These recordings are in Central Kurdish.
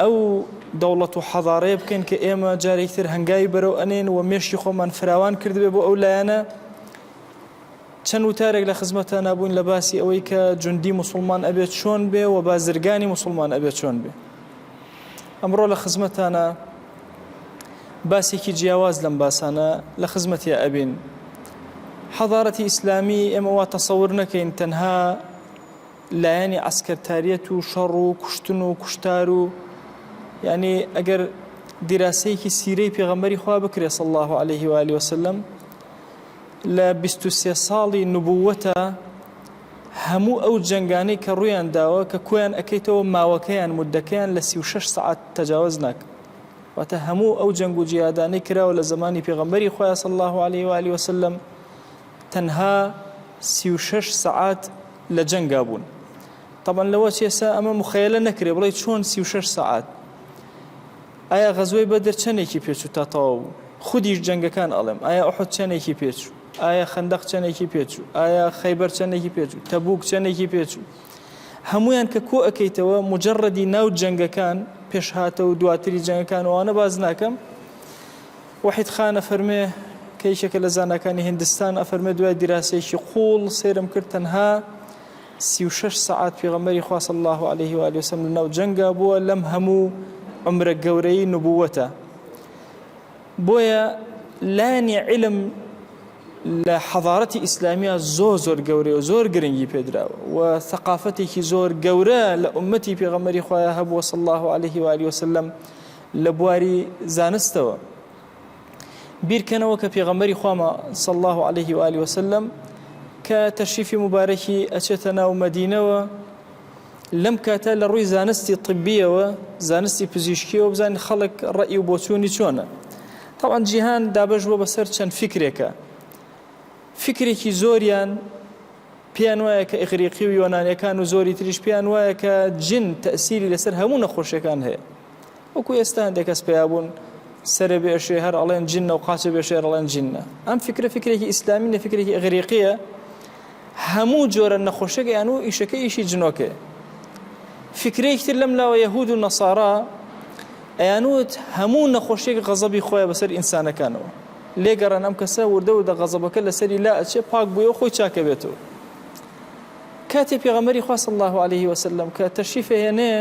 ئەو دەوڵەت و حەزارەیە بکەین کە ئێمە جارێکی تر هەنگاوی بەرەو ئەنێن و مێشکی خۆمان فراوان کردبێ بۆ ئەو لایەنە چەند وتارێک لە خزمەتە نابووین لە باسی ئەوەی کە جوندی مسلمان ئەبێت چۆن بێ و بازرگانی مسلمان ئەبێت چۆن بێ ئەمڕۆ لە خزمەتانە باسێکی جیاواز لەم باسانە لە خزمەتیا ئەبین حەضارەتی ئیسلامی ئێمە وا تەسەور نەکەین تەنها لایەنی عەسکەرتاریەت و شەڕ و کوشتن و کوشتار و یعنی ئەگەر دیراسەیەکی سیرەی پێغەمبەری خوا بکرێت صلی الله عليه و آله وسلم لە 23 ساڵی نبووەتە هەموو ئەو جنگانەی کە ڕویان داوە کە کۆیان ئەکەیتەوە ماوەکەیان مدەکەیان لە 36 سعات تەجاوز ناک واتە هەموو ئەو جەنگ و جیادانەی کراوە لە زمانی پێغەمبەری خۆیان صلی الله عليه و آله وسلم تەنها 36 سعات لە جەنگا بوون تەبعەن لەوە چێ سا ئەمە مخەیەلە نەکرێ بڵێ چۆن سی و شەش سەعات ئایا غەزوەی بەدر چەندێکی پێچوو تا تەواو بوو خودیش جەنگەکان ئەڵێم ئایا ئەحد چەندێکی پێچوو ئایا خەندەق چەندێکی پێچوو ئایا خەیبەر چەندێکی پێچوو تەبوک چەندێکی پێچوو هەمویان کە کۆ ئەەکەیتەوە مجرڕدی ناو جەنگەکان پێشهاتە و دواتری جەنگەکانوانە باز ناکەم وەحید خان ئەفەرمێ کە یەکێکە لە زاناکانی هیندستان ئەفەرمێ دوای دیراسەیەکی قووڵ سەیرم کرد تەنها سی و شەش سەعات پێغەمبەری خوا صلی الله علیه و آله وسلم لەناو جەنگا بووە لەم هەموو عمرە گەورەی نبووەتە بۆیە لانی علم لە حەضارەتی ئیسلامیا زۆر زۆر گەورەیە و زۆر گرنگی پێدراوە و ثقافتێکی زۆر گەورە لە ئومەتی پێغەمەری خۆیان هەبووە صلی الله عليه و آله وسلم لە بواری زانستەوە بیرکەنەوە کە پێغەمبەری خوامە صلی الله عليه و آله وسلم کە تەشریفی مبارەکی ئەچێتە ناو مەدینەوە لەم کاتە لە ڕووی زانستی طببیەوە زانستی پزیشکیەوە بزانین خەڵک ڕئی و بۆچوونی چۆنە تاوان جیهان دابش بۆ بەسەر چەند فکرێکە فکرێکی زۆریان پێیان وایە کە ئیغریقی و یۆنانەکان و زۆری تریش پێیان وایە کە جن تەسیری لەسەر هەموو نەخۆشیەکان هەیە وەکو ئێستا هەندێک کەس پیابوون سەرە بێشێ هەر ئەڵێن جنە و قاچە بێشێ ئەڵێن جنە ئەم فکرە فکرێکی ئیسلامی نە فکرێکی ئەغریقیە هەموو جۆرە نەخۆشەکەیان و ئیشەکە ئیشی جنۆکێ فکرێکتر لەم لاوە یەهود و نەسارا ئەیانوت هەموو نەخۆشیێک غەزەبی خۆیان بەسەر ئینسانەکانەوە لێگەڕان ئەم کەسە وردە وردە غەزەبەکە لەسەری لا ئەچێ پاک بووە خۆی چاکەبێتەوە کاتێ پێغەمەری خواست الله عليه وسلم کە تەشیفە هێنێ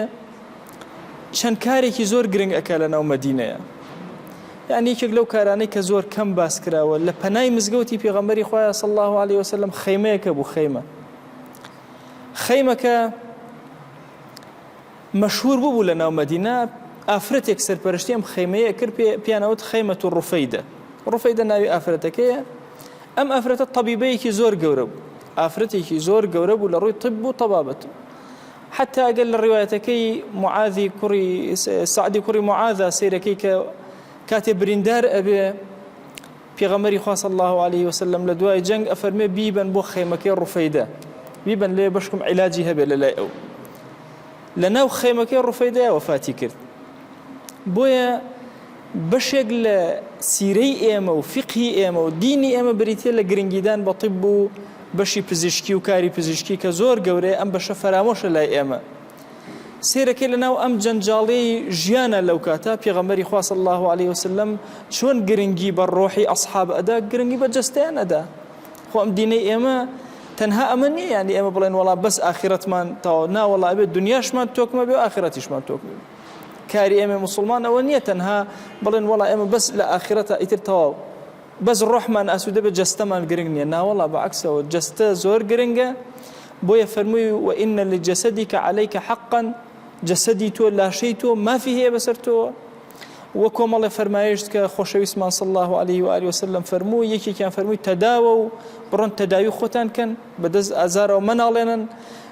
چەند کارێکی زۆر گرنگ ئەکا لە ناو مەدینەیا یان یەکێک لەو کارانەی کە زۆر کەم باس کراوە لە پەنای مزگەوتی پێغەمبەری خوایە صلی الله علیه وسلم خەیمەیەکە بوو خەیمە خەیمەکە مەشهور ببوو لە ناو مەدینە ئافرەتێک سەرپەرشتی ئەم خەیمەیە کرد پیانەوەت خەیمەت و ڕوفەیدە ڕوفەیدە ناوی ئافرەتەکەیە ئەم ئافرەتە طبیبەیەکی زۆر گەورە بوو ئافرەتێکی زۆر گەورە بوو لە ڕووی طب و طبابەت حەتتا ئەگەر لە ڕیوایەتەکەی معاذی کوڕی سەعدی کوڕی معاذا سەیرەکەی کە کاتێ بریندار ئەبێ پێغەمەری خوا صلی الله علیه وسلم لە دوای جەنگ ئەفەرمێ بیبەن بۆ خێمەکەی ڕوفەیدە بیبەن لێ بەشکم عیلاجی هەبێ لە لای ئەو لە ناو خێمەکەی ڕوفەیدای وەفاتی کرد بۆیە بەشێک لە سیرەی ئێمە و فیقهی ئێمە و دینی ئێمە بریتیە لە گرنگیدان بە طیب و بەشی پزیشکی و کاری پزیشکی کە زۆر گەورەیە ئەم بەشە فەرامۆشە لای ئێمە سێرەکەی لەناو ئەم جەنجاڵی ژیانە لەو کاتە پێغەمەری خوا صلی الله علیه وسلم چۆن گرنگی بە ڕۆحی ئەصحاب ئەدا گرنگی بە جەستەیان ئەدا خۆ ئەم دینەی ئێمە تەنها ئەمە نییە یعنی ئێمە بڵێن وڵا بەس ئاخرەتمان تاو ناوەڵا بێت دنیاشمان تۆکمە بێ ئاخرەتیشمان تۆکمە بێت کاری ئێمەی موسڵمان ئەوە نییە تەنها بڵێن وەڵا ئێمە بەس لە ئاخرەتە ئیتر تەواو بەس ڕۆحمان ئاسوودە بە جەستەمان گرنگ نییە ناوەڵا بە عکسەوە جەستە زۆر گرنگە بۆیە فەرمووی و ئینە لە جەسەدی کە عەلەیکە حەقەن جەسەدی تۆ لاشەی تۆ مافی هەیە بەسەر تۆوە وە کۆمەڵێ فەرمایشت کە خۆشەویستمان سڵ الله عليه و علی وسلم فەرموو یەکێکیان فەرمووی تەداوە و بڕۆن تەداوی خۆتان کەن بەدەست ئازارەوە مناڵێنن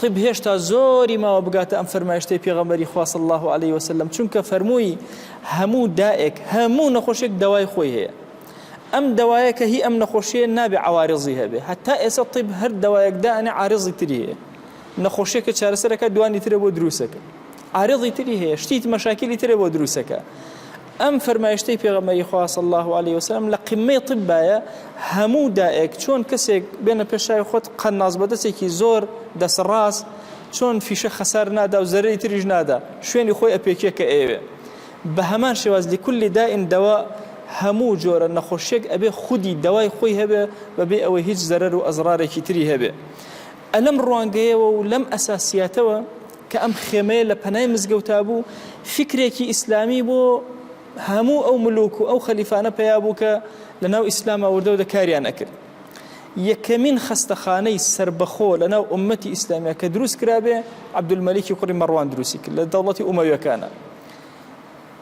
طب هێشتا زۆری ماوە بگاتە ئەم فەرمایشتەی پێغەمبەری خوا صلی الله علیه وسلم چونکە فەرمووی هەموو دائێک هەموو نەخۆشێک دەوای خۆی هەیە ئەم دەوایە کە هی ئەم نەخۆشیە نابێ عوارزی هەبێ هەتا ئێستا طب هەر دەوایەک دانێ عارزی تری هەیە نەخۆشیەکە چارەسەرەکە دوانی ترە بۆ دروستەکە عارضی تری هەیە شتیت مەشاکلی ترە بۆ دروستەکە ئەم فەرمایشتەی پێغەمبەری خوا صلی اللە علیە وسلم لە قمەی طبایە هەموو دائێک چۆن کەسێک بێنە پێش چاوی خۆت قەناس بەدەستێکی زۆر دەسڕاست چۆن فیشە خەسار نادا و زەرری تریش نادا شوێنی خۆی ئەپێکێ کە ئێوێ بە هەمان شێواز لکلی دائین دەوا هەموو جۆرە نەخۆشیێک ئەبێ خودی دەوای خۆی هەبێ بەبێ ئەوەی هیچ زەرەر و ئەزرارێکی تری هەبێ ە لەم ڕوانگەیەوە و لەم ئەساسیاتەوە کە ئەم خێمەیە لە پەنای مزگەوتا بوو فیکرێکی ئیسلامی بۆ هەموو ئەو ملوک و ئەو خەلیفانە پەیا بوو کە لە ناو ئیسلاما وردەو دە کاریان ئەکرد یەکەمین خەستەخانەی سربەخۆ لە ناو ئومەتی ئیسلامیا کە دروست کرابێ عبدولمەلیکی کوڕی مەڕوان دروستی کرد لە دەوڵەتی ئومەویەکانە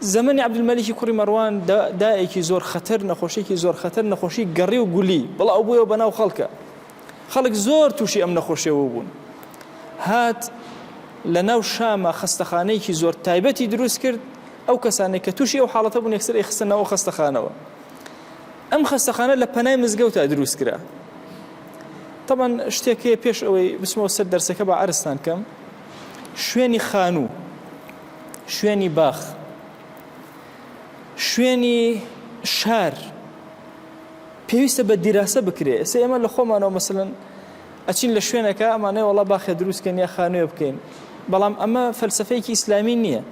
زمانی عبدولمەلیکی کوڕی مەڕوان دایەکی زۆر خەتەر نەخۆشیێکی زۆر خەتەر نەخۆشی گەڕی و گولی بڵاو بووە بە ناو خەڵکە خەڵک زۆر تووشی ئەم نەخۆشیەوە بوون هات لە ناو شامە خەستەخانەیەکی زۆر تایبەتی دروست کرد ئەو کەسانێک کە تووشی ئەو حاڵەتە بوون یەکسەر ئەیخستە ناو خەستەخانەوە ئەم خەستەخانە لە پەنای مزگەوتا دروست کرا طبعا شتێک هەیە پێش ئەوەی بسمەوە سەر دەرسەکە بە عرستان کەم شوێنی خانوو شوێنی باخ شوێنی شار پێویستە بە دیراسە بکرێ ئێستا ئێمە لە خۆمانەوە مەسەلەن ئەچین لە شوێنەکە ئەمانەی وەڵا باخێ دروستکەن یا خانوێ بکەین بەڵام ئەمە فەلسفەیەکی ئیسلامی نییە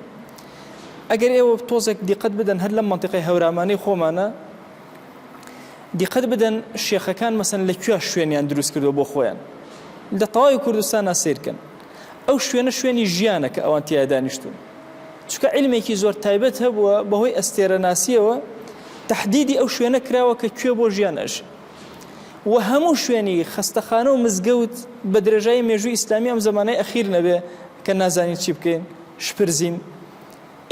ئەگەر ئێوە تۆزێک دیقەت بدەن هەر لەم منطقەی هەورامانەی خۆمانە دیقەت بدەن شێخەکان مەسەن لە کوێ شوێنیان دروست کردو بۆ خۆیان لە تەواوی کوردستانە سیرکەن ئەو شوێنە شوێنی ژیانە کە ئەوان تیا دانیشتون چکە علمێکی زۆر تایبەت هەبووە بەهۆی ئەستێرە ناسیەوە تهدیدی ئەو شوێنە کراوە کە کوێ بۆ ژیان ئەژ و هەموو شوێنی خستەخانە و مزگەوت بە درێژایی مێژووی ئیسلامی ئەم زمانەی ئەخیر نەبێ کە نازانین چی بکەین شپرزین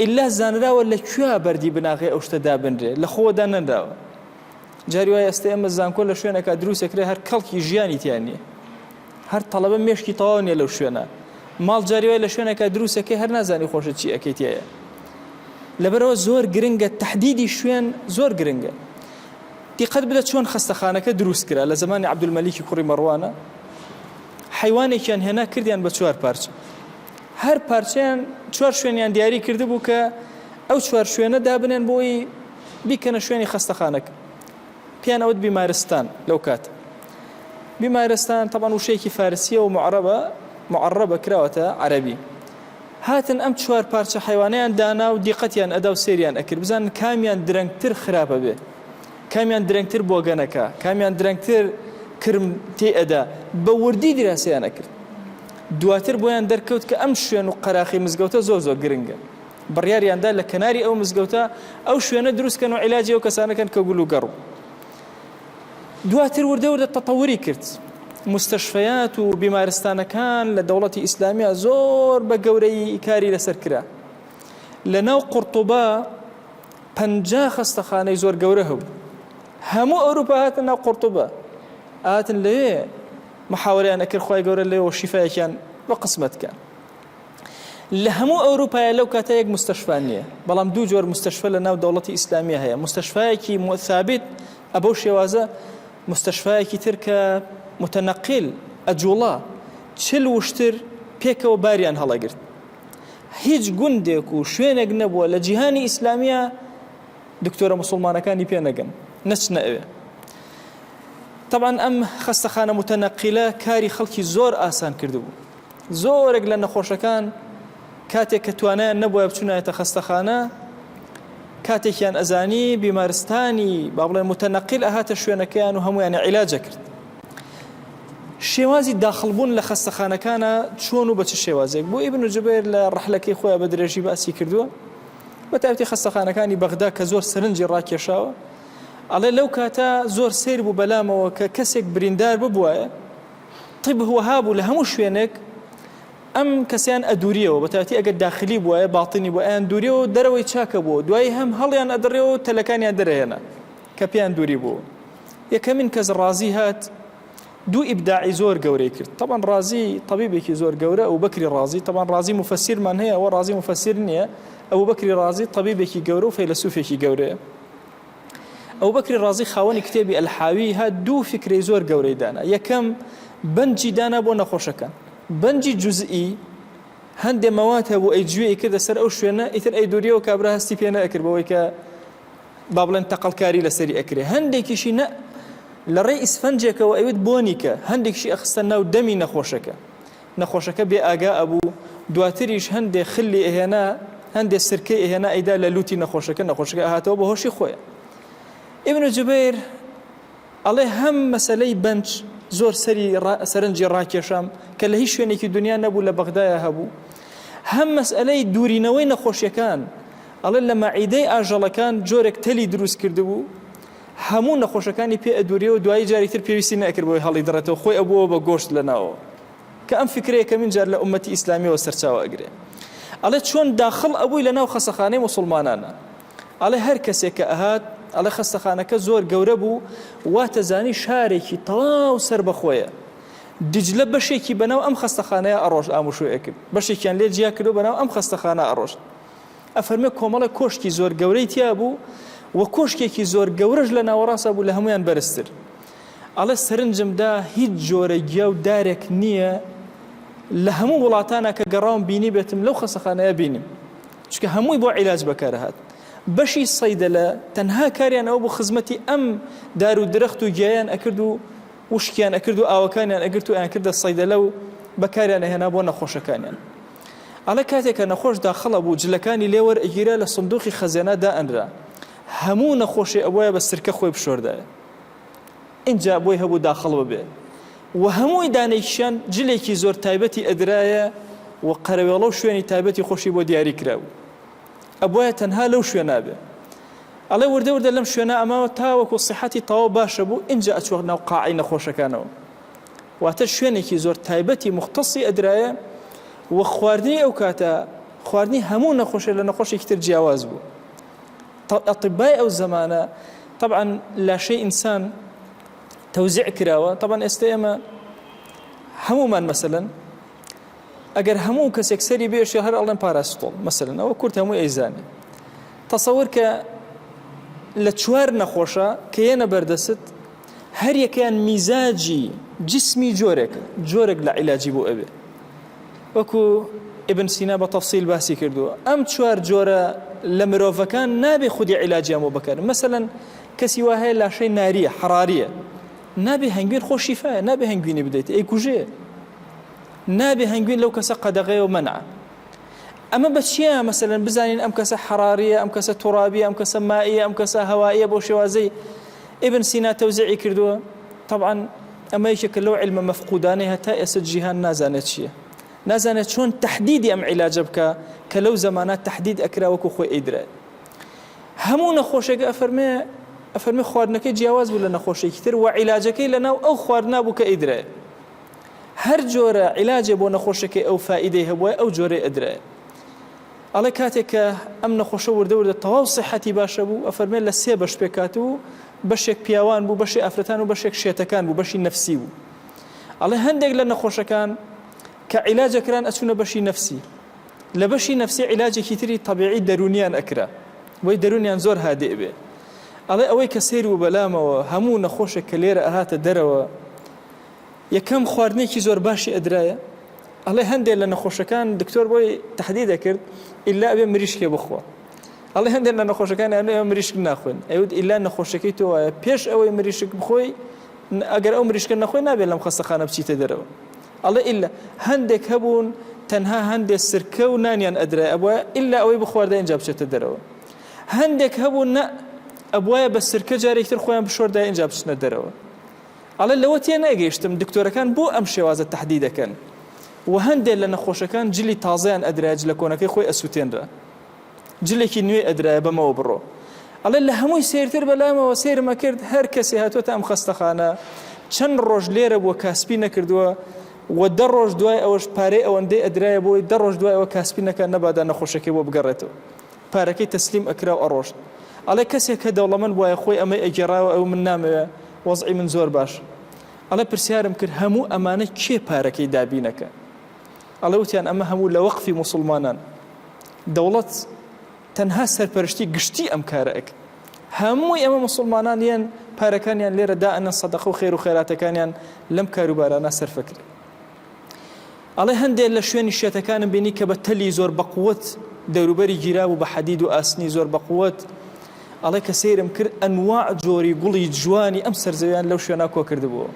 ئللا زانراوە لە کوێ بەردی بناغی ئەو شتە دابنرێ لە خۆدا نەنراوە جاری وای ئەستی ئەمە زانکۆ لە شوێنەکە دروستەکرێ هەر کەڵکی ژیانی تیان نیە هەر تەڵەبە مێشکی تەواو نیە لەو شوێنە ماڵ جاری وای لە شوێنەکە دروستەکەی هەر نازانی خۆشت چی ئەەکەی تایە لەبەرەوە زۆر گرنگە تهدیدی شوێن زۆر گرنگە دیقەت بدە چۆن خستەخانەکە دروست کرا لە زمانی عبدولمەلیکی کوڕی مەڕوانە حیوانێکیان هێنا کردیان بە چوار پارچە هەر پارچیان چوار شوێنیان دیاری کرد بوو کە ئەو چوار شوێنە دابنێن بۆی بیکەنە شوێنی خستەخانەکە پێیان ئەوت بیمارستان لەو کات بیمارستان تەبان وشەیەکی فارسیە و معربە معربە کراوەتە عەربی هاتن ئەم چوار پارچە حیوانیان دانا و دیقەتیان ئەدا و سریان ئەکرد بزان کامیان درەنگتر خراپە بێ کامیان درەنگتر بۆگەنەکە کامیان درەنگتر کرم تێ ئەدا بە وردی دراسیان ئەکرد دواتر بۆیان دەرکەوت کە ئەم شوێن و قەراخی مزگەوتە زۆر زۆر گرنگە بڕیاریان دا لە کەناری ئەو مزگەوتە ئەو شوێنە دروست کەن و عیلاجی ئەو کەسانە کەن کە گول و گەڕ و دواتر وردە وردە تەتەوری کرد مستەشفەیات و بیمارستانەکان لە دەوڵەتی ئیسلامیا زۆر بە گەورەی کاری لەسەر کرا لە ناو قورتوبە پەنجا خەستەخانەی زۆر گەورە هەبوو هەموو ئەوروپا هاتن ناو قورتوبە ئاتن لێ محاوریان ئەکرد خی گەورە لێەوە شیفاەکیان بە قسمەتکە لە هەموو ئەوروپایە لەو کاتە یەک مستەشفا نییە بەڵام دوو جۆر مستەشفە لە ناو دەوڵەتی ئیسلامیە هەیە مستەشفایەکی ثابت ئەبەو شێوازە مستەشفایەکی تر کە متەنەقیل ئەجوڵا چل وشتر پێکەوە باریان هەڵەگرت هیچ گوندێک و شوێنێک نەبووە لە جیهانی ئیسلامیە دکتۆرە مسلمانەکانی پێ نەگەن نەچ نەوێ طبعا ئەم خەستەخانە متەنەقیلە کاری خەڵکی زۆر ئاسان کردبوو زۆرێک لە نەخۆشەکان کاتێک کە توانایان نەبووە بچونایەتە خەستەخانە کاتێکیان ئەزانی بیمارستانی با بڵێن متەنەقیل ئەهاتە شوێنەکەیان و هەمویان عیلاجە کرد شێوازی داخلبوون لە خەستەخانەکانە چۆن و بە چ شێوازێک بۆ ئیبن جبێر لە ڕحلەکەی خۆیان بە درێژی باسی کردووە بە تاوتی خەستەخانەکانی بەغدا کە زۆر سەرنجی ڕاکێشاوە ئەڵێ لەو کاتە زۆر سیر بوو بەلامەوە کە کەسێک بریندار ببووە طب وەها بوو لە هەموو شوێنێک ئەم کەسیان ئەدوریەوە بەتاتی ئەگەر داخلی بووە باڵتنی بۆ ئەیان دووریەوە و دەرەوەی چاکە بوو دوای هەم هەڵیان ئەدڕێەوە و تەلەکانیان دەرەێنە کە پێیان دووری بوو یەکەمین کەس ڕازی هات دوو ئیبداعی زۆر گەورەی کرد طبعا ڕازی طبیبێکی زۆر گەورە ئەو بەکری ڕازی طبعا ڕازی مفسیرمان هەیە ئەوە ڕازی مفسیر نییە ئەو بەکری ڕازی طبیبێکی گەورە و فەیلسوفێکی گەورەیە ئەبوبەکری ڕازی خاوەنی کتێبی الحاویە دوو فیکرەی زۆر گەورەی دانا، یەکەم بەنجی دانا بۆ نەخۆشەکان، بەنجی جزئی هەندێ مەواد هەبوو ئەی جوێ ئیکردە سەر ئەو شوێنە ئیتر ئەی دووریەوە کابرا هەستی پێ نەکرد بەوەی کە با بڵێن تەقەڵکاری لەسەری ئەکرێ هەندێکیشی نە لە ڕێی ئیسفەنجێکەوە ئەوت بۆنیکە هەندێکشی ئەخستە ناو دەمی نەخۆشەکە نەخۆشەکە بێ ئاگا ئەبوو دواتریش هەندێ خلی ئەهێنا هەندێ سرکەی ئەهێنا ئەیدا لە لوتی نەخۆشەکە نەخۆشەکە ئەهاتەوە بە هۆشی خۆیە ئیبن جوبیر ئەڵێ هەم مەسلەی بەنج زۆر سەری سەرنجی ڕاکێشام کە لە هیچ شوێنێکی دنیا نەبوو لە بەغدایە هەبوو هەم مەسئلەی دوورینەوەی نەخۆشیەکان ئەڵێ لە مەعیدەی ئاژەڵەکان جۆرێک تەلی دروست کردبوو هەموو نەخۆشەکانی پێ ئەدوریەوە دوایی جاری تر پێویستی نەئەکرد بۆی هەڵی دڕێتەوە خۆی ئەبووەوە بە گۆشت لە ناوەوە کە ئەم فکرەیە کەمین جار لە ئومەتی ئیسلامیەوە سەرچاوە ئەگرێ ئەڵێ چۆن داخڵ ئەبووی لە ناو خەسەخانەی موسڵمانانە ئەڵێ هەر کەسێک کە ئەهات ئەڵێ خەستەخانەکە زۆر گەورە بوو واتەزانی شارێکی تەواو سەر بەخۆیە دجلە بەشێکی بەناو ئەم خەستەخانەیە ئەڕۆژ ئاموشۆیەکرد بەشێکیان لێ جیا کردو بەناو ئەم خەستەخانە ئەڕۆژ ئەفەرمێ کۆمەڵێک کۆشکی زۆر گەورەی تیا بوو و کۆشکێکی زۆر گەورەش لە ناوەڕاستە بوو لە هەمویان بەرزتر ئەڵێ سەرنجمدا هیچ جۆرە گیا و دارێک نییە لە هەموو وڵاتانە کە گەڕاوم بینی بێتم لەو خەسەخانەیە بینیم چکە هەمووی بۆ عیلاج بەکارهات بەشی سەیدە لە تەنها کاریان ئەو بۆ خزمەتی ئەم دار و درەخت و گیایان ئەکرد و وشکیان ئەکرد و ئاوەکانیان ئەگرت و ئەیان کردە سەیدەلە و بەکاریان ئەهێنا بۆ نەخۆشەکانیان ئەڵێ کاتێک کە نەخۆش داخڵە بوو جلەکانی لێ وەرئەگیرا لە سندوقی خەزێنا دائەنرا هەموو نەخۆشێ ئەبوایە بە سرکە خۆی بشۆردایە ئینجا بۆی هەبوو داخڵ ببێ و هەمووی دانێکیان جلێکی زۆر تایبەتی ئەدرایە و قەرەوێڵە و شوێنی تایبەتی خۆشی بۆ دیاری کرابوو ئەبواە تەنها لەو شوێ نابێ ئەڵێ وردە وردە لەم شوێنە ئەماوە تاوەکو سیحەتی تەواو باشە بوو ئینجا ئەچوەق ناو قاعی نەخۆشەکانەوە واتە شوێنێکی زۆر تایبەتی موختەسی ئەدرایە و خواردنی ئەو کاتە خواردنی هەموو نەخۆشێ لە نەخۆشێکی تر جیاواز بوو ئەطبای ئەو زەمانە طبعا لاشەی ئینسان تەوزیع کراوە طبعا ئێستا ئێمە هەمومان مەسەن ئەگەر هەموو کەسێک سەری بێشێ هەر ئەڵێن پاراستۆڵ مەسەن ئەوە کورت هەموو ئەیزانێ تەسەور کە لە چوار نەخۆشە کە یەنە بەردەست هەریەکەیان میزاجی جسمی جۆرێکە جۆرێک لە عیلاجی بۆ ئەوێ وەکو ئبن سینا بە تەفسیل باسی کردووە ئەم چوار جۆرە لە مرۆڤەکان نابێ خودی عیلاجیان بۆ بکەن مەسەەن کەسی وا هەیە لاشەی ناریە حراریە نابێ هەنگوین خۆشیفاە نابێ هەنگوینی بدەیت ئەی کوژێ نابێ هەنگوین لەو کەسە قەدەغەیە و منە ئەمە بە چیە مەسەن بزانین ئەم کەسە حراریە ئەم کەسە تڕابی ئەم کەسە مایە ئەم کەسە هەوایە بۆ شێوازەی ئبن سینا تەوزعی کردووە طبعاان ئەمە یەکێکە لەو علمە مەفقودانەی هەتا ئێستا جیهان نازانێت چییە نازانێت چۆن تهدیدی ئەم عیلاجە بکە کە لەو زمانە تهدید ئەکرا وەکو خۆی ئیدرا هەموو نەخۆشێک ئەفەرمێ ئەفەرمی خواردنەکەی جیاواز بوو لە نەخۆشێکی تر و عیلاجەکەی لە ناو ئەو خواردنا بوو کە ئیدرێ هەر جۆرە عیلاجێ بۆ نەخۆشەکەی ئەو فائیدەی هەبووە ئەو جۆرەی ئەدرایە ئەڵێ کاتێک کە ئەم نەخۆشە وردە وردە تەواو سەحەتی باشە بوو ئەفەرمێ لە سێ بەش پێکات و بەشێک پیاوان بوو بەشی ئافرەتان و بەشێک شێتەکان بوو بەشی نەفسی بوو ئەڵێ هەندێک لە نەخۆشەکان کە عیلاجەکران ئەچوونە بەشی نەفسی لە بەشی نەفسی عیلاجێکی تری تەبیعی دەرونیان ئەکرا بۆی دەرونیان زۆر هادێ بێ ئەڵێ ئەوەی کە سیر و بەلامەوە هەموو نەخۆشێک کە لێرە ئەهاتە دەرەوە یەکەم خواردنێکی زۆر باشی ئەدرایە ئەڵێ هەندێک لە نەخۆشەکان دکتۆر بۆی تهدی دەکرد ئللا ئەبێ مریشکێ بخۆ ئەڵێ هەندێک لە نەخۆشەکان ئەێ مریشک ناخۆن ئەوت ئللا نەخۆشەکەی تۆ وایە پێش ئەوەی مریشک بخۆی ئەگەر ئەو مریشکە نەخۆی نابێت لەم خەستەخانە بچیتە دەرەوە ئەڵێ ئللا هەندێک هەبوون تەنها هەندێک سرکە و نانیان ئەدرای ئەبە ئللا ئەوەی بخواردە ئینجا بچێتە دەرەوە هەندێک هەبوو نە ئەبواە بە سرکە جارێکتر خۆیان بشۆردا ئینجا بچنە دەرەوە ئەڵێ لەوە تێنەگەیشتم دکتۆرەکان بۆ ئەم شێوازە تەحدی دەکەن و هەندێ لە نەخۆشەکان جلی تازەیان ئەدرایە جلە کۆنەکەی خۆی ئەسوتێنرا جلێکی نوێ ئەدرایە بەمەوە بڕۆ ئەڵێ لە هەمووی سێرتر بەلامەوە سێرم ئەکرد هەر کەسێ هاتووەتە ئەم خەستەخانە چەند ڕۆژ لێرە بووە کاسپی نەکردووە و دە ڕۆژ دوای ئەوەش پارەی ئەوەندەی ئەدرایە بۆی دە ڕۆژ دوای ئەوە کاسپی نەکە نەبادا نەخۆشەکەی بۆ بگەڕێتەوە پارەکەی تەسلیم ئەکرا و ئەڕۆشت ئەڵێ کەسێک کە دەوڵەمەند وایە خۆی ئەمەی ئەگێڕاوە ئەو من نامەوێ وەزعی من زۆر باش ئەڵێ پرسیارم کرد هەموو ئەمانە کێ پارەکەی دابینەکە ئەڵێ وتیان ئەمە هەموو لە وەقفی موسڵمانان دەوڵەت تەنها سەرپەرشتی گشتی ئەم کارە ئەک هەمووی ئەمە مسلمانان یەن پارەکانیان لێرە دائەنە سەدەقە و خێر و خێراتەکانیان لەم کاروبارانە سەرفەکرێت ئەڵێ هەندێ لە شوێنی شێتەکانم بینی کە بە تەلی زۆر بەقوت دەوروبەری گیرابوو بە حەدید و ئاسنی زۆر بەقوت ئەڵێ کە سەیرم کرد ئەنوا جۆری گوڵی جوانی ئەم سەرزەویان لەو شوێنا کۆ کردبووە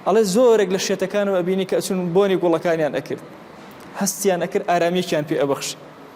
ئەڵێ زۆرێک لە شێتەکانم ئەبینی کە ئەچون بۆنی گوڵەکانیان ئەکرد هەستیان ئەکرد ئارامیەکیان پێ ئەبەخش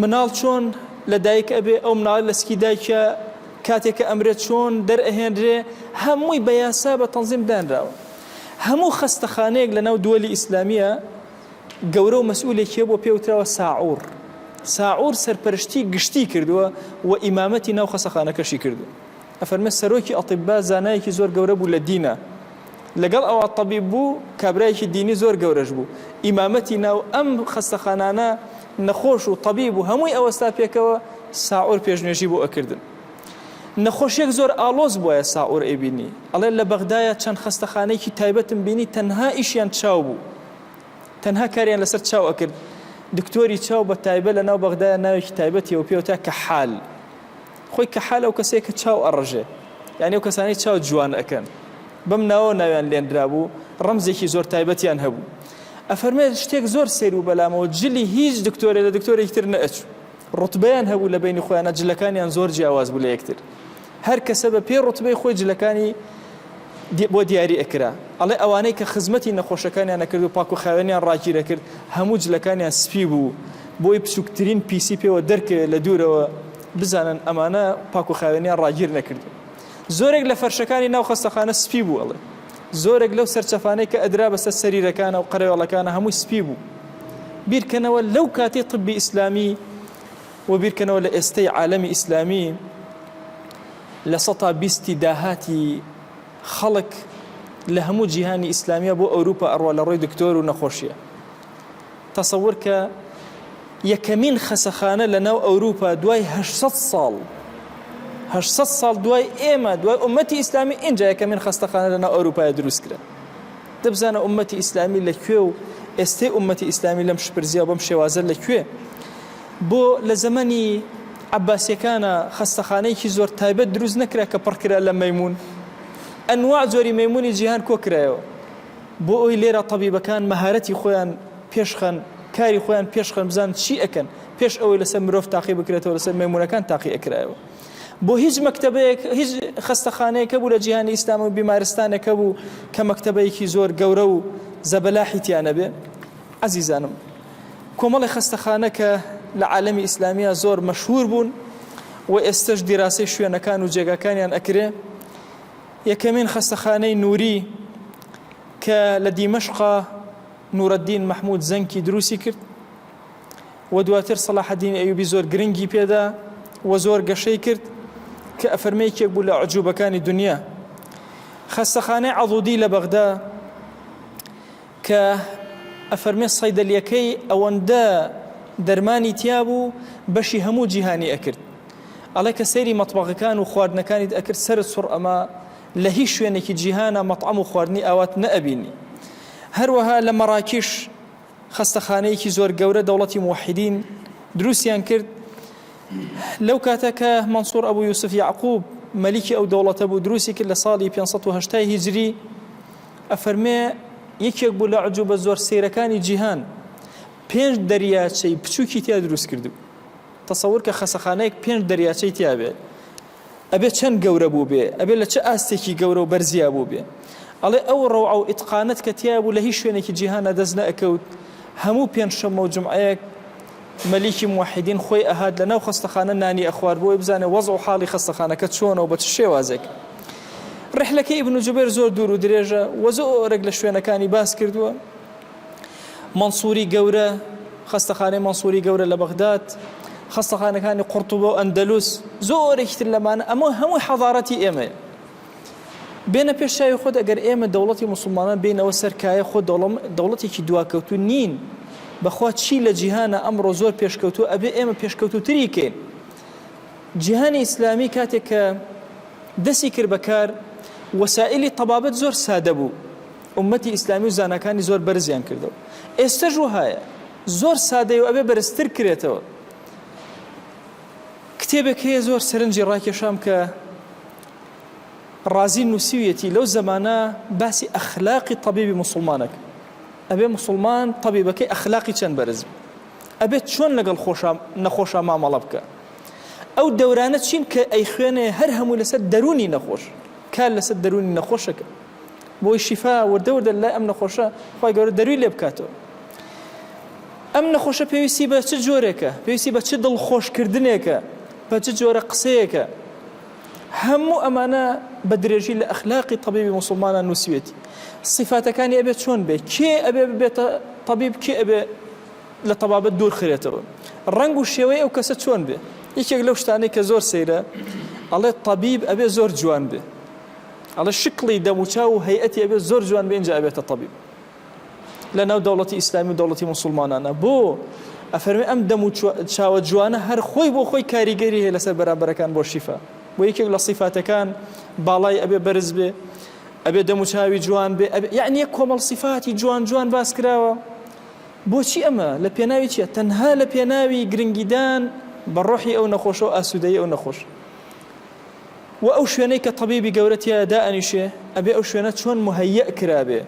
مناڵ چۆن لە دایک ئەبێ ئەو مناڵی لە سکی دایکە کاتێک کە ئەمرێت چۆن دەرئەهێنرێ هەمووی بە یاسا بە تەنزیم دانراوە هەموو خەستەخانەیەک لە ناو دووەلی ئیسلامیە گەورە و مەسئولێکیە بۆ پێوتراوە ساعور ساعور سەرپەرشتی گشتی کردووە و ئیمامەتی ناو خەسەخانەکەشی کردو ئەفەرمێ سەرۆکی ئەطبا زانایەکی زۆر گەورە بوو لە دینا لەگەڵ ئەوە طبیب بوو کابرایەکی دینی زۆر گەورەش بوو ئیمامەتی ناو ئەم خەستەخانانە نەخۆش و طبیب و هەمووی ئەوەستا پێکەوە ساعور پێشنوێژی بۆ ئەکردن نەخۆشیەک زۆر ئالۆز بواە ساعور ئەیبینی ئەڵێ لە بەغدایە چەند خەستەخانەیەکی تایبەتم بینی تەنها ئیشیان چاو بوو تەنها کاریان لەسەر چاو ئەکرد دکتۆری چاو بە تایبە لە ناو بەغدایە ناوێکی تایبەتیەوە پێوتا کە حال خۆی کەحال ئەو کەسەیە کە چاو ئەڕژێ یانی ئەو کەسانەی چاو جوان ئەکەن بەم ناوەوە ناویان لێنرابوو ڕەمزێکی زۆر تایبەتیان هەبوو ئەفەرمێ شتێک زۆر سەیر بوو بەلامەوە جلی هیچ دکتۆرێ لە دکتۆرێکی تر نەئەچوو ڕوتبەیان هەبوو لە بینی خۆیانە جلەکانیان زۆر جیاواز بوو لە یەکتر هەر کەسە بە پێ ڕوتبەی خۆی جلەکانی بۆ دیاری ئەکرا ئەڵێ ئەوانەی کە خزمەتی نەخۆشەکانیان نەکرد و پاک و خاوێنیان ڕاگیرە کرد هەموو جلەکانیان سپی بوو بۆی بچووکترین پیسی پێوە دەرکەوێت لە دوورەوە بزانن ئەمانە پاک و خاوێنیان ڕاگیر نەکردوون. زۆرێک لە فەرشەکانی ناو خەستەخانە سپی بوو ئەڵێ. زۆرێک لەو سەرچەفانەی کە ئەدرا بەسەر سەریرەکانە و قەرەوێڵەکانە هەمووی سپی بوو. بیرکەنەوە لەو کاتی طبی ئیسلامی و بیرکەنەوە لە ئێستەی عالەمی ئیسلامی لە سەتا بیستی داهاتی خەڵک لە هەموو جیهانی ئیسلامیا بۆ ئەوروپا ئەڕوا لە ڕووی دکتۆر و نەخۆشیە. تەسەور کە یەکەمین خەسەخانە لە ناو ئەوروپا دوای هەشت سەد ساڵ هەشت سەد ساڵ دوای ئێمە دوای ئومەتی ئیسلامی ئینجا یەکەمین خەستەخانە لە ناو ئەوروپای دروست کرا دەبزانە ئومەتی ئیسلامی لە کوێ و ئێستەی ئومەتی ئیسلامی لەم شپرزیا و بەم شێوازە لە کوێ بۆ لە زەمەنی عباسیەکانە خەستەخانەیەکی زۆر تایبەت دروست نەکرا کە پڕکرا لە مەمون ئەنوا جۆری مەمونی جیهان کۆکرایەوە بۆ ئەوەی لێرە تەبیبەکان مەهارەتی خۆیان پێشخەن، کاری خۆیان پێشخەن بزانن چی ئەکەن، پێش ئەوەی لەسەر مرۆڤ تاقی بکرێتەوە لەسەر مەیمونەکان تاقی ئەکرایەوە. بۆ هیچ مەکتەبەیەک هیچ خەستەخانەیەک هەبوو لە جیهانی ئیسلام و بیمارستانێک هەبوو کە مەکتەبەیەکی زۆر گەورە و زەبەلاحی تیا نەبێ؟ عەزیزانم کۆمەڵی خەستەخانە کە لە عالەمی ئیسلامیە زۆر مەشهور بوون و ئێستەش دیراسەی شوێنەکان و جێگاکانیان ئەکرێ یەکەمین خەستەخانەی نووری کە لە دیمەشقە نورەدین مەحمود زەنکی دروستی کرد و دواتر سەلاحەدین ئەیوبی زۆر گرنگی پێدا و زۆر گەشەی کرد کە ئەفەرمەیەکێک بوو لە عجوبەکانی دنیا خەستەخانەی عەضودی لە بەغدا کە ئەفەرمێ صەیدەلیەکەی ئەوەندە دەرمانی تیابوو بەشی هەموو جیهانی ئەکرد ئەڵێ کە سەیری مەتبەغەکان و خواردنەکانیت ئەکرد سەرت سوڕ ئەما لە هیچ شوێنێکی جیهانا مەتعەم و خواردنی ئاوات نەئەبینی هەروەها لە مەراکیش خەستەخانەیەکی زۆر گەورە دەوڵەتی موحیدین دروستیان کرد لەو کاتە کە مەنسوور ئەبوو یوسف یعقوب مەلیکی ئەو دەوڵەتە بوو دروستی کرد لە ساڵی 580 هیجری ئەفەرمێ یەکێک بوو لە عجوبە زۆر سەیرەکانی جیهان پێنج دەریاچەی بچووکی تیا دروست کردبوو تەسەور کە خەسەخانەیەک پێنج دەریاچەی تیا بێت ئەبێ چەند گەورە بوو بێ ئەبێ لە چه ئاستێکی گەورە و بەرزیا بوو بێ ئەڵێ ئەو ڕەوعە و ئیتقانت کە تیا بوو لە هیچ شوێنێکی جیهانە دەست نەئەکەوت هەموو پێنج شەممە و جمعەیەک مەلیکی موحیدین خۆی ئەهات لە ناو خەستەخانە نانی ئەخوارد بۆوەی بزانێ وەزع و حاڵی خەستەخانەکە چۆنە و بە چ شێوازێک. ڕیحلەکەی ئیبن جوبێر زۆر دوور و درێژە و زۆرێک لە شوێنەکانی باس کردووە. مەنسوری گەورە، خەستەخانەی مەنسوری گەورە لە بەغداد، خەستەخانەکانی قورتوبە و ئەندەلوس، زۆرێکی تر لەمانە، ئەمە هەمووی حەضارەتی ئێمەیە. بێنە پێش چاوی خۆت ئەگەر ئێمە دەوڵەتی موسڵمانان بێنەوە سەر کایە خۆ دەوڵەم دەوڵەتێکی دواکەوتو نین بەخوا چی لە جیهانە ئەمڕۆ زۆر پێشکەوتو ئەبێ ئێمە پێشکەوتوتری کەین جیهانی ئیسلامی کاتێک کە دەسی کرد بەکار وەسائلی تەبابەت زۆر سادە بوو ئومەتی ئیسلامی و زانەکانی زۆر بەرزیان کردەوە ئێستەش وهایە زۆر سادەی و ئەبێ بەرزتر کرێتەوە کتێبێک هەیە زۆر سەرنجی ڕاکێشام کە ڕازی نوسیویەتی لەو زەمانە باسی ئەخلاقی تەبیبی موسڵمانەک ئەبێ موسڵمان تەبیبەکەی ئەخلاقی چەند بەرز ئەبێت چۆن لەگەڵ خۆشە نەخۆشە مامەڵە بکە ئەو دەورانە چین کە ئەی خوێنێ هەر هەموو لەسەر دەرونی نەخۆش کار لەسەر دەرونی نەخۆشەکە بۆی شیفا وردەوردە لای ئەم نەخۆشە خۆی گەورە دەروی لێ بکاتەوە ئەم نەخۆشە پێویستی بە چ جۆرێکە پێویستی بە چ دڵخۆشکردنێکە بە چ جۆرە قسەیەکە هەموو ئەمانە بە درێژی لە ئەخلاقی تەبیبی موسڵمانان نووسیوێتی سیفاتەکانی ئەبێ چۆن بێ کێ ئەبێ ببێتە تەبیب کێ ئەبێ لە تەبابەت دوور خرێتەوە ڕنگ و شێوەی ئەو کەسە چۆن بێ یەکێک لەو شتانەی کە زۆر سەیرە ئەڵێ تەبیب ئەبێ زۆر جوان بێ ئەڵێ شکڵی دەموچاو و هەیئەتی ئەبێ زۆر جوان بێ ئینجا ئەبێتە تەبیب لەناو دەوڵەتی ئیسلامی و دەوڵەتی موسڵمانانە بۆ ئەفەرمی ئەم دەم و چاوە جوانە هەر خۆی بۆ خۆی کاریگەری هەیە لەسەر بەرامبەرەکان بۆ شیفا بۆ یەکێک لە سیفاتەکان باڵای ئەبێ بەرز بێ ئەبێ دەم و چاوی جوان بێ یعنی یەک کۆمەڵ سیفاتی جوان جوان باس کراوە بۆچی ئەمە لە پێناوی چیە تەنها لە پێناوی گرنگیدان بە ڕۆحی ئەو نەخۆشە و ئاسوودەی ئەو نەخۆش وە ئەو شوێنەی کە تەبیبی گەورە تیایە دائەنیشێ ئەبێ ئەو شوێنە چۆن مهیئ کرابێ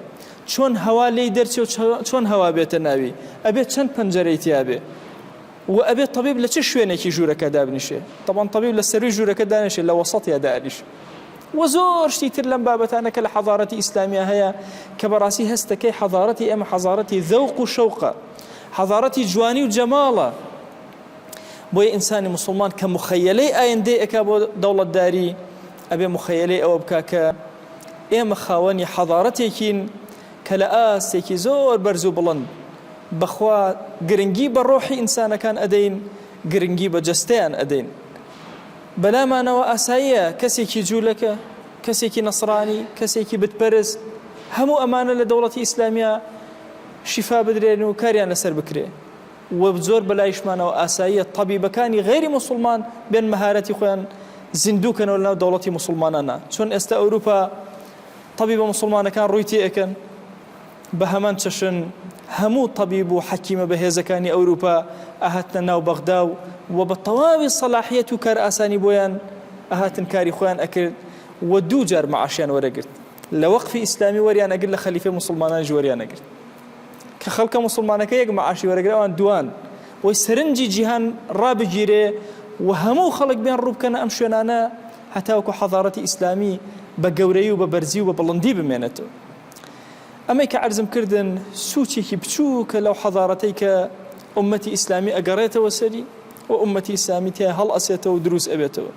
چۆن هەوا لێی دەرچێ و چۆن هەوا بێتە ناوی ئەبێ چەند پەنجەرەی تیابێ وە ئەبێ تەبیب لە چ شوێنێکی ژوورەکە دابنیشێ تەبان تەبیب لە سەروی ژوورەکە دانیشێ لە وەسەتیا دانیش وە زۆر شتی تر لەم بابەتانە کە لە حەضارەتی ئیسلامیا هەیە کە بەڕاستی هەستەکەی حەضارەتی ئێمە حەضارەتی ذەوق و شەوقە حەضارەتی جوانی و جەماڵە بۆیە ئینسانی موسڵمان کە مخەیەلەی ئایندەی ئەکا بۆ دەوڵەتداری ئەبێ مخەیەلەی ئەوە بکا کە ئێمە خاوەنی حەضارەتێکین کە لە ئاستێکی زۆر بەرز و بڵند بەخوا گرنگی بە ڕۆحی ئینسانەکان ئەدەین گرنگی بە جەستەیان ئەدەین بەلامانەوە ئاساییە کەسێکی جوولەکە کەسێکی نەسرانی کەسێکی بتپەرز هەموو ئەمانە لە دەوڵەتی ئیسلامیا شیفا بدرێن و کاریان لەسەر بکرێ وە زۆر بەلایشمانەوە ئاساییە تەبیبەکانی غەیری موسوڵمان بێن مەهارەتی خۆیان زیندوو کەنەوە لەناو دەوڵەتی موسوڵمانانا چۆن ئێستا ئەوروپا تەبیبە موسوڵمانەکان ڕووی تێئەکەن بە هەمان چەشن هەموو تەبیب و حەکیمە بەهێزەکانی ئەوروپا ئەهاتنە ناو بەغدا و و بە تەواوی سەلاحیەت و کار ئاسانی بۆیان ئەهاتن کاری خۆیان ئەکرد و دوو جار مەعاشیان وەرەگرت لە وەقفی ئیسلامی وەریان ئەگرت لە خەلیفەی موسڵمانانیش وەریان ئەگرت کە خەڵکە موسڵمانەکە یەک مەعاشی وەرەگرە ئەوان دوان وەی سەرنجی جیهان ڕابگیرێ و هەموو خەڵک بێن ڕووبکەنە ئەم شوێنانە هەتاوکو حەزارەتی ئیسلامی بە گەورەی و بە بەرزی و بە بڵندی بمێنێتەوە ئەمەی کە عرزم کردن سوچێکی بچووکە لەو حەزارەتەی کە ئومەتی ئیسلامی ئەگەڕێتەوە سەری و ئومەتی ئیسلامی تیا هەڵ ئەسێتەوە و دروست ئەبێتەوە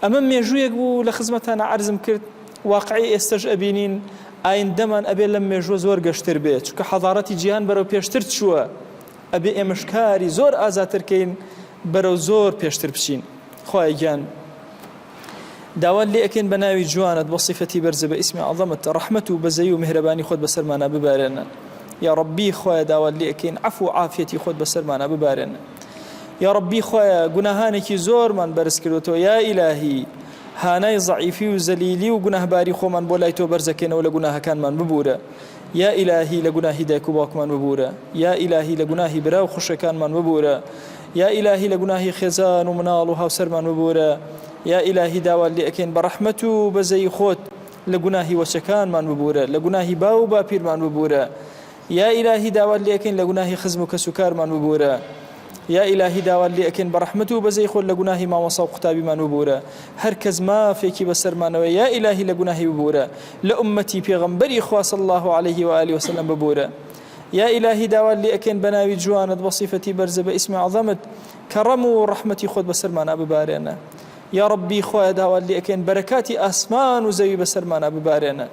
ئەمە مێژوویەک بوو لە خزمەتانا عەرزم کرد واقعی ئێستەش ئەبینین ئایندەمان ئەبێ لەم مێژووە زۆر گەشتر بێ چونکە حەضارەتی جیهان بەرەو پێشتر چووە ئەبێ ئێمەش کاری زۆر ئازاترکەین بەرەو زۆر پێشتر بچین خوای گیان داوات لێ ئەکەین بە ناوی جوانت بۆ صفەتی بەرزە بە ئیسمی عظەمت ڕەحمەت و بەزەی و مهرەبانی خۆت بەسەرمانە ببارێنە یا ڕبی خوایە داوات لێ ئەکەین عفو و عافیەتی خۆت بەسەرمانە ببارێنە یاڕەبی خوایە گوناهانێکی زۆرمان بەرز کردوەوە یا ئیلاهی هانای زەعیفی و زەلیلی و گوناهباری خۆمان بۆ لای تۆ بەرزەکەینەوە لە گوناهەکانمان ببورە یا ئیلاهی لە گوناهی دایک و باوکمان ببورە یا ئیلاهی لە گوناهی برا و خوشەکانمان ببورە یا ئیلاهی لە گوناهی خێزان و مناڵ و هاوسەرمان ببورە یا ئیلاهی داوات لێ ئەکەین بە ڕەحمەت و بەزەی خۆت لە گوناهی وەچەکانمان ببورە لە گوناهی باو و باپیرمان ببورە یا ئیلاهی داوات لێ ئەکەین لە گوناهی خزم و کەس و کارمان ببوورە یا ئیلاهی داوات لێ ئەکەین بە ڕەحمەت و بەزەی خۆت لە گوناهی مامۆسا و قوتابیمان ببوورە هەر کەس مافێکی بەسەرمانەوەیە یا ئیلاهی لە گوناهی ببوورە لە ئوممەتی پێغەمبەری خوا صلی اللە علیه و آله وسلم ببوورە یا ئیلاهی داوات لێ ئەکەین بە ناوی جوانت بە صیفەتی بەرزە بە ئیسمی عەظەمت کەڕەم و ڕەحمەتی خۆت بەسەرمانا ببارێنە یا ڕەبی خوایە داوات لێ ئەکەین بەرەکاتی ئاسمان و زەوی بەسەرمانا ببارێنە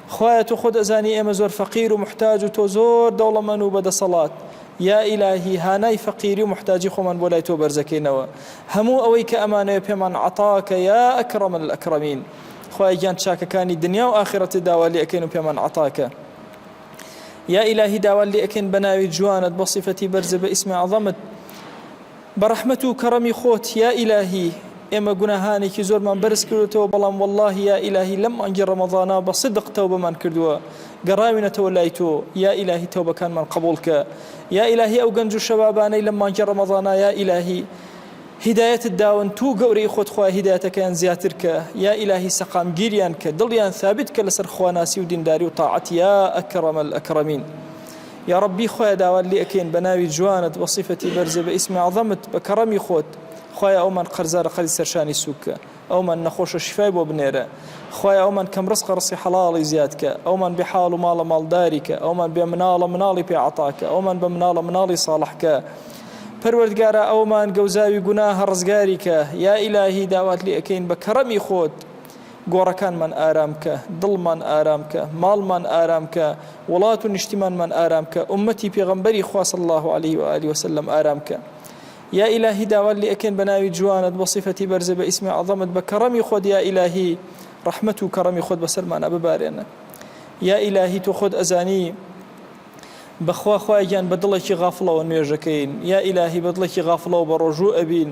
خوایە تۆ خۆت ئەزانی ئێمە زۆر فەقیر و محتاج و تۆ زۆر دەوڵەمەن و بەدەسەڵات یا ئیلاهی هانای فەقیری و محتاجی خۆمان بۆ لای تۆ بەرزەکەینەوە هەموو ئەوەی کە ئەمانەوێ پێمان عەتاکە یا ئەکرەم الئەکرەمین خوای گیان چاکەکانی دنیا و ئاخرەتی داوا لێ ئەکەین و پێمان عەتاکە یا ئیلاهی داوا لێ ئەکەین بە ناوی جوانت بە سیفەتی بەرزە بە ئیسمی عەظەمت بە ڕەحمەت و کەڕەمی خۆت یا ئیلاهی ئێمە گوناهانێکی زۆرمان بەرز کردۆتەوە بەڵام وەڵاهی یا ئیلاهی لەم مانگی ڕەمەزانا بە سدق تەوبەمان کردووە گەڕاوینەتەوە لای تۆ یا ئیلاهی تەوبەکانمان قبوڵ کە یا ئیلاهی ئەو گەنج و شەبابانەی لەم مانگی ڕەمەزانا یا ئیلاهی هیدایەتت داون توو گەورەی خۆت خوایە هیدایەتەکەیان زیاتر کە یا ئیلاهی سەقامگیریان کە دڵیان ثابت کە لەسەر خواناسی و دینداری و تاعەت یا ئەکرەمەلئەکرەمین یاڕەبی خوایە داوات لێ ئەکەین بە ناوی جوانت وە سیفەتی بەرزت بە ئیسمی عەزەمت بە کەڕەمی خۆت خوایە ئەومان قەرزارە قەرزی سەرشانی سوککە ئەومان نەخۆشە شیفای بۆ بنێرە خوایە ئەومان کەم ڕزقە ڕزقی حەڵاڵی زیادکە ئەومان بێ حاڵ و ماڵە ماڵداریکە ئەومان بێ مناڵە مناڵی پێ عەتاکە ئەومان بە مناڵە مناڵی ساڵحکە پەروەردگارە ئەومان گەوزاوی گوناهە ڕزگاریکە یا ئیلاهی داوات لێ ئەکەین بە کەڕەمی خۆت گۆڕەکانمان ئارام کە، دڵمان ئارام کە، ماڵمان ئارام کە، وڵات و نیشتیمانمان ئارام کە، ئوممەتی پێغەمبەری خوا صلی اللە علیە و آله وسلم ئارام کە. یا ئیلاهی داوات لێ ئەکەین بە ناوی جوانت، بە صیفەتی بەرزت، بە ئیسمی عەظەمت، بە کەڕەمی خۆت یا ئیلاهی ڕەحمەت و کەڕەمی خۆت بەسەرمانا ببارێنە. یا ئیلاهی تۆ خۆت ئەزانی بەخوا خوایە گیان بە دڵێکی غافڵەوە نوێژەکەین، یا ئیلاهی بە دڵێکی غافڵەوە بە ڕۆژوو ئەبین،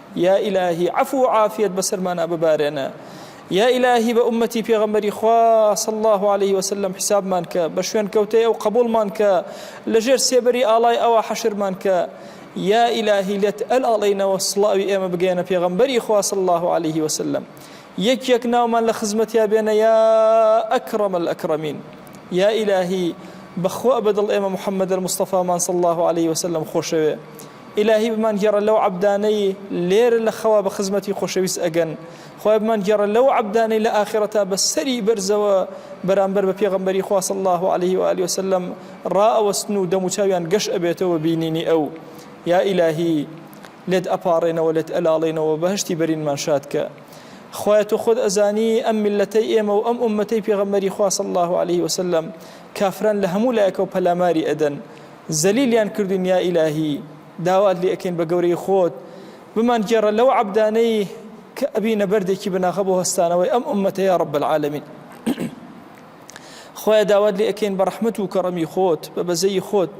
یا ئیلاهی عەفو و عافیەت بەسەرمانا ببارێنە یا ئیلاهی بە ئومەتی پێغەمبەری خوا صلی الله علیه وسلم حسابمان کە بە شوێن کەوتەی ئەو قبولمان کە لەژێر سێبەری ئاڵای ئەوە حەشرمان کە یا ئیلاهی لێت ئەل ئاڵینەوە سڵاوی ئێمە بگەێنە پێغەمبەری خوا صلی الله علیه وسلم یەک یەک ناومان لە خزمەتیا بێنە یا ئەکرم الأکرمین یا ئیلاهی بەخوا بەدڵ ئێمە محەممەد مستەفامان صلی الله عليه وسلم خۆشەوێ ئیلاهی بمان گێڕە لەو عەبدانەی لێرە لە خەوا بە خزمەتی خۆشەویست ئەگەن خوای بمان گێڕە لەو عەبدانەی لە ئاخیڕەتا بە سەری بەرزەوە بەرامبەر بە پێغەمبەری خوا صلی اللە علیه و آله وسلم ڕائەوەستن و دەموچاویان گەش ئەبێتەوە بینینی ئەو یا ئیلاهی لێت ئەپاڕێنەوە لێت ئەلاڵێنەوە بەهەشتی بەرینمان شادکە خوایە تۆ خۆت ئەزانی ئەم میلەتەی ئێمە و ئەم ئومەتەی پێغەمبەری خوا صلی اللە علیه وسلم کافران لە هەموو لایەکەوە پەلاماری ئەدەن زەلیلیان کردوین یا ئیلاهی داوات لێ ئەکەین بە گەورەی خۆت بمان گێڕە لەو عەبدانەی کە ئەبینە بەردێکی بناغە بۆ هەستانەوەی ئەم ئوممەتە یا رب العالمین خوایە داوات لێ ئەکەین بە رەحمەت و کەڕەمی خۆت بە بەزەی خۆت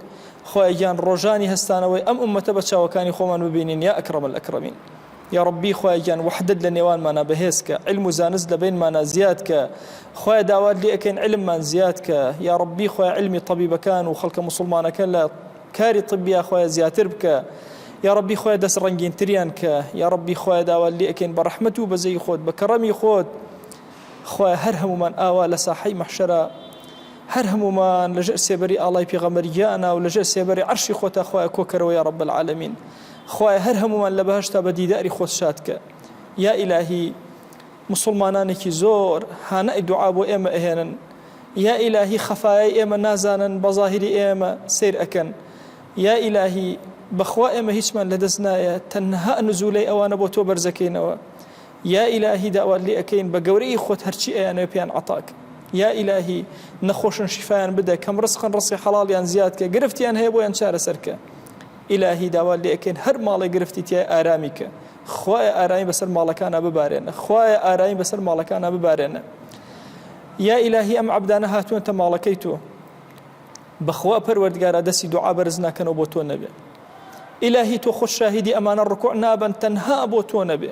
خوایە گیان ڕۆژانی هەستانەوەی ئەم ئوممەتە بە چاوەکانی خۆمان ببینین یا ئەکرەم الئەکرەمین یاڕەبی خوایە گیان وەحدەت لە نێوانمانا بەهێز کە علم و زانست لە بەینمانا زیاد کە خوایە داوات لێ ئەکەین علممان زیاد کە یاڕەبی خوای علمی طبیبەکان و خەڵکە مسلمانەکە لە کاری طبیا خوایە زیاتر بکە یاڕەبی خوای دەست ڕەنگینتریان کە یاڕەبی خوایە داوات لێ ئەکەین بە ڕەحمەت و بەزەی خۆت بە کەڕەمی خۆت خوای هەر هەمومان ئاوا لە ساحەی مەحشەرە هەر هەمومان لەژێر سێبەری ئاڵای پێغەمەرگیانە و لەژێر سێبەری عەرشی خۆتا خوای کۆکەرەوە یا رب العالمین خوایە هەر هەموومان لە بەهەشتا بە دیداری خۆت شاد کە یا ئیلاهی مسلمانانێکی زۆر هانای دوعا بۆ ئێمە ئەهێنن یا ئیلاهی خەفایای ئێمە نازانن بە ظاهری ئێمە سیر ئەکەن یا ئیلاهی بەخوا ئێمە هیچمان لەدەست نایە تەنها نزولەی ئەوانە بۆ تۆ بەرزەکەینەوە یا ئیلاهی داوات لێ ئەەکەین بە گەورەی خۆت هەرچی ئەیانێ پێیان عتاک یا ئیلاهی نەخۆشن شیفایان بدە کەم ڕسقن ڕستی حەڵاڵیان زیاد کە گرفتیان هەیە بۆیان چارەسەرکە ئیلاهی داوات لێ ئەکەین هەر ماڵێ گرفتی تیایە ئارامی کە خوایە ئارامی بەسەر ماڵەکانا ببارێنە خوایە ئارامی بەسەر ماڵەکانا ببارێنە یا ئیلاهی ئەم عەبدانە هاتوونەتە ماڵەکەی تۆ بەخوا پەروەردگارە دەستی دوعا بەرز ناکەنەوە بۆ تۆ نەبێ ئیلاهی تۆ خۆش شاهیدی ئەمانە ڕکوع نابن تەنها بۆ تۆ نەبێ